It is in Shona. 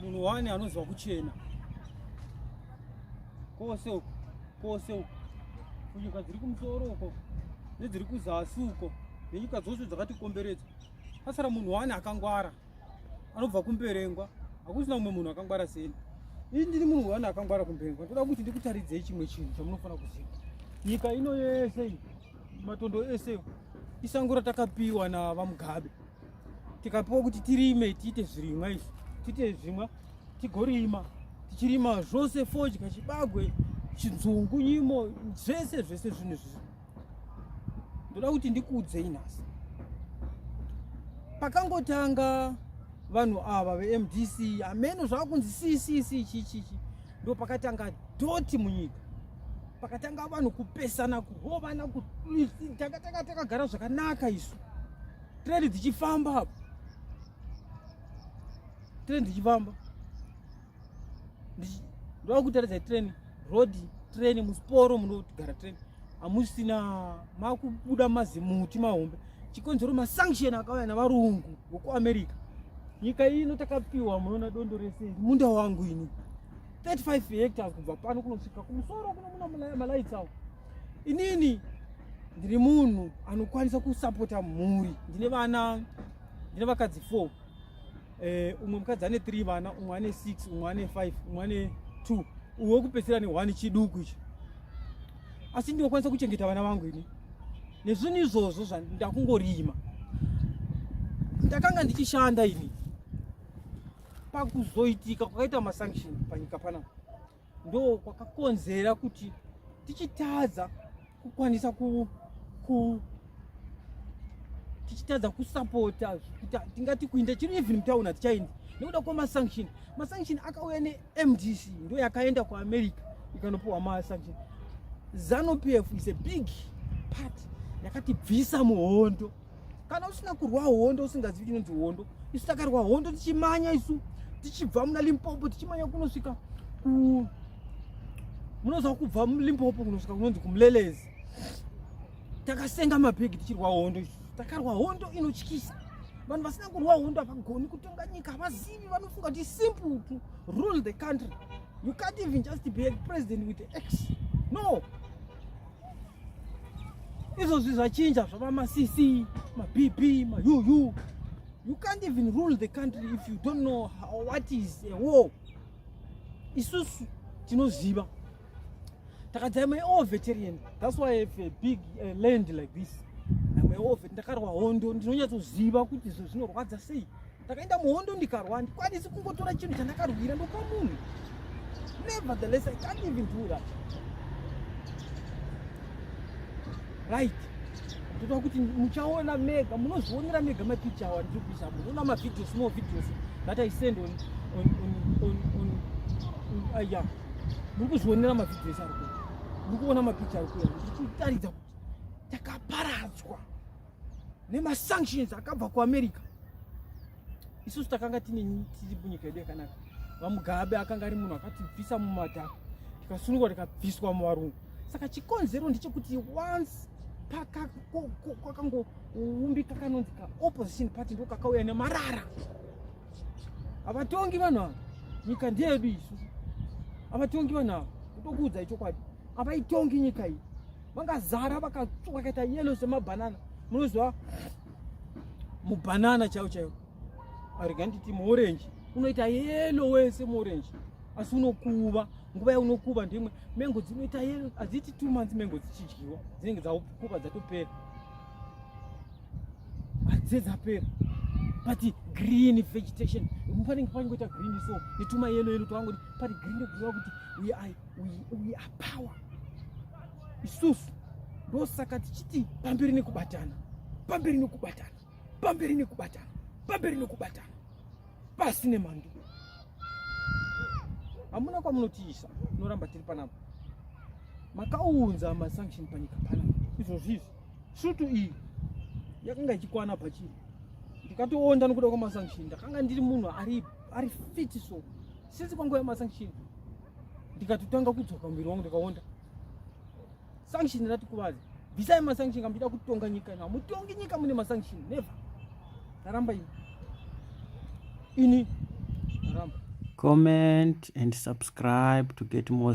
munhu wani anonzwa kuchena kose uko kose uko kunyika dziri kumusoro uko nedziri kuzasi uko nenyika dzose dzakatikomberedza asara munhu wani akangwara anobva kumberengwa hakusina umwe munhu akangwara seni ini ndiri munhu wani akangwara kumberengwa ndoda kuti ndikutaridzei chimwe chinhu chamunofanira kuziva nyika ino yese iyi matondo ese isango ratakapiwa navamugabe tikapiwa kuti tirime tiite zvirimwa izvi tiite zvimwa tigorima tichirima zvose fodya chibagwe chinzungu nyimo zvese zvese zvinhu izvizvi ndoda kuti ndikuudzei nhasi pakangotanga vanhu ava vemdc ameno zvava kunzi ccc chichichi ndo pakatanga doti munyika pakatanga vanhu kupesana kuhovana takatanga takagara zvakanaka isu trendi dzichifamba apo trendi dzichifamba ndoa kutaridza trendi road trendi musporo munogara trendi hamusina makubuda mazimuti mahombe Chikonzero masanction akauya navarungu vokuamerica nyika iyi ino takapiwa munoona dondo rese munda wangu ini 35 hectares kubva pano kunosvika kumusoro kuno muna malaits awo inini ndiri munhu anokwanisa kusapota mhuri ndine vana ndine vakadzi four eh, umwe mukadzi ane three vana umwe ane six umwe ane five umwe ane two uwe kupedzisira ne one chiduku ichi asi ndinokwanisa kuchengeta vana vangu ini nezvinhu izvozvo zvandakungorima ndakanga ndichishanda ini pakuzoitika kwakaita masanction panyika pana ndo kwakakonzera kuti tichitadza kukwanisa ku, ku tichitadza kusapota tingati kuinda chiri even mutauna tichaindi nekuda kwemasanction masanction akauya ne MDC ndio yakaenda kwa America ikanopuwa ma sanction. Zanu PF is a big part yakatibvisa muhondo. Kana usina kurwa hondo usingazivi chinonzi hondo, isu takarwa hondo tichimanya isu tichibva muna Limpopo tichimanya kunosvika ku munoziva kubva mulimpopo kunosvika kunonzi kumulelezi takasenga mabhegi tichirwa hondo takarwa hondo inotyisa vanhu vasina kurwa hondo havagoni kutonga nyika havazivi vanofunga kuti simple to rule the country you can't even just be a president with x no izvozvi zvachinja zvava macc mabb mauu you can't even rule the country if you don't know how, what is a war isusu tinoziva takadzai my all veterian that's why i have a big uh, land like this ndakarwa hondo ndinonyatsoziva kuti izvo zvinorwadza sei ndakaenda muhondo ndikarwa handikwanisi kungotora chinhu chandakarwira ndopa munhu nevertheless i can't even do that right ndotoa kuti muchaona mega munozvionera mega mapicha awa ndiri kuisa munoona mavideo small videos that i send on on on on on ah, ya muri kuzvionera mavideo ese ari kuya muri kuona mapicha ari kuya ndiri kutaridza kuti takaparadzwa nemasanctions akabva kuamerica isusu takanga tiri munyika yedu yakanaka vamugabe akanga ari munhu akatibvisa mumadhaka tikasunungwa tikabviswa muvarungu saka chikonzero ndechekuti once kwakangoumbika kanonzi kaopposition party ndo kakauya nemarara havatongi vanhu ava nyika ndeyedu isu havatongi vanhu ava kutokuudza ichokwadi avaitongi nyika iyi vakazara vakaita yelo semabhanana munoziva mubhanana chaiwo chaiwo arega nditi muorenji unoita yelo wese muorenji asi unokuva nguva yaunokuva ndimwe mengo dzinoita yelo hadziiti two months mengo dzichidyiwa dzinenge dzakuva dzatopera hadzidze dzapera but green vegetation panenge pangoita green so netuma yelo yelo twangoti pari green kuziva kuti we are we are power isusu ndosaka tichiti pamberi nekubatana pamberi nekubatana pamberi nekubatana pamberi nekubatana pasi nemhando hamuna kwamunotiisa tinoramba tiri panapa makaunza masanction panyika panapa izvozvi izvi svutu iyi yakanga ichikwana pachiri ndikatoonda nokuda kwamasanction ndakanga ndiri munhu ari fiti so since kwanguva yemasanction ndikatotanga kudzoka muviri wangu ndikaonda sanction ratikuvadza bvisai masanction kamuchida kutonga nyika ino hamutongi nyika mune masanction never ndaramba ini ini ndaramba comment and subscribe to get more